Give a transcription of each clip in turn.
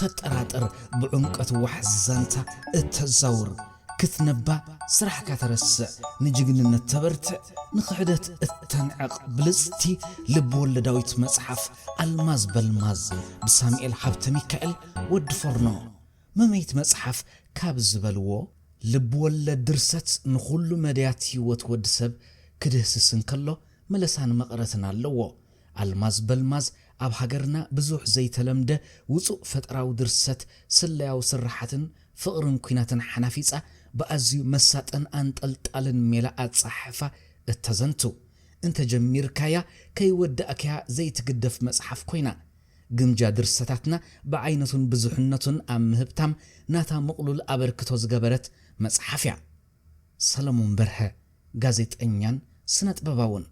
ተጠራጥር ብዑምቀት ዋሕዚ ዛንታ እተዛውር ክትነባ ስራሕካ ተረስዕ ንጅግንነት ተበርትዕ ንኽሕደት እተንዕቕ ብልጽቲ ልብወለዳዊት መጽሓፍ ኣልማዝ በልማዝ ብሳሚኤል ሃብተሚካኤል፣ ወዲ ፎርኖ፣ መመይት መጽሓፍ ካብ ዝበልዎ ልብወለድ ድርሰት ንኹሉ መዳያት ህይወት ወዲ ሰብ ክድህስስ እንከሎ መለሳን መቐረትን ኣለዎ። ኣልማዝ በልማዝ ኣብ ሃገርና ብዙሕ ዘይተለምደ ውጹእ ፈጠራዊ ድርሰት ስለያዊ ስርሓትን ፍቕርን ኲናትን ሓናፊጻ ብኣዝዩ መሳጥን ኣንጠልጣልን ሜላ ኣጸሓሕፋ እተዘንቱ እንተ ጀሚርካያ ከይወዳእካያ ዘይትግደፍ መጽሓፍ ኮይና ግምጃ ድርሰታትና ብዓይነቱን ብዙሕነቱን ኣብ ምህብታም ናታ ምቕሉል ኣበርክቶ ዝገበረት መጽሓፍያ። ሰለሙን በርሀ ጋዜጠኛን ስነጥበባውን።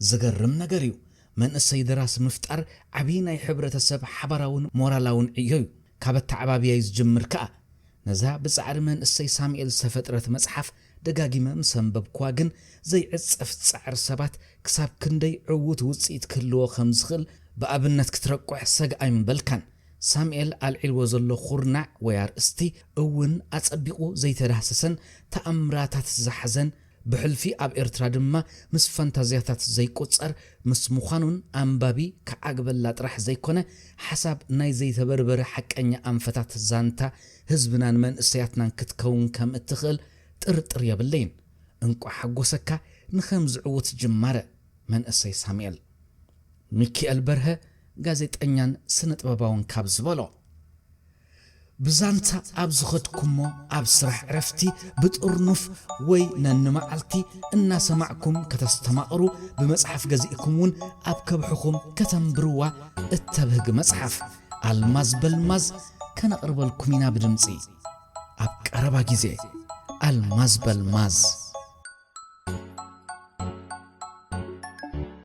ዝገርም ነገር እዩ መንእሰይ ደራሲ ምፍጣር ዓብይ ናይ ሕብረተ ሰብ ሓባራውን ሞራላውን ዕዮ እዩ ካብ ኣተዓባብያይ ዝጅምር ከኣ ነዛ ብጻዕሪ መንእሰይ ሳሚኤል ዝተፈጥረት መጽሓፍ ደጋጊመ ምስ ኣንበብክዋ ግን ዘይዕጸፍ ጻዕሪ ሰባት ክሳብ ክንደይ ዕዉት ውጽኢት ክህልዎ ከም ዝኽእል ብኣብነት ክትረቁሕ ሰግ ኣይምበልካን ሳሚኤል ኣልዒልዎ ዘሎ ኩርናዕ ወይ ኣርእስቲ እውን ኣጸቢቁ ዘይተዳህሰሰን ተኣምራታት ዝሓዘን ብሕልፊ ኣብ ኤርትራ ድማ ምስ ፋንታዝያታት ዘይቁጸር ምስ ምዃኑን ኣንባቢ ክዓግበላ ጥራሕ ዘይኮነ ሓሳብ ናይ ዘይተበርበረ ሓቀኛ ኣንፈታት ዛንታ ህዝብናን መንእሰያትናን ክትከውን ከም እትኽእል ጥርጥር የብለይን እንቋዕ ሓጎሰካ ንኸምዚ ዕዉት ጅማረ መንእሰይ ሳሙኤል። ሚኪኤል በርሀ ጋዜጠኛን ስነጥበባውን ካብ ዝበሎ። ብዛንታ ኣብ ዝኸድኩሞ ኣብ ስራሕ ዕረፍቲ ብጥርኑፍ ወይ ነንመዓልቲ እናሰማዕኩም ከተስተማቕሩ ብመጽሓፍ ገዚእኩም ውን ኣብ ከብሕኹም ከተንብርዋ እተብህግ መጽሓፍ ኣልማዝ በልማዝ ከነቕርበልኩም ኢና ብድምጺ ኣብ ቀረባ ግዜ ኣልማዝ በልማዝ።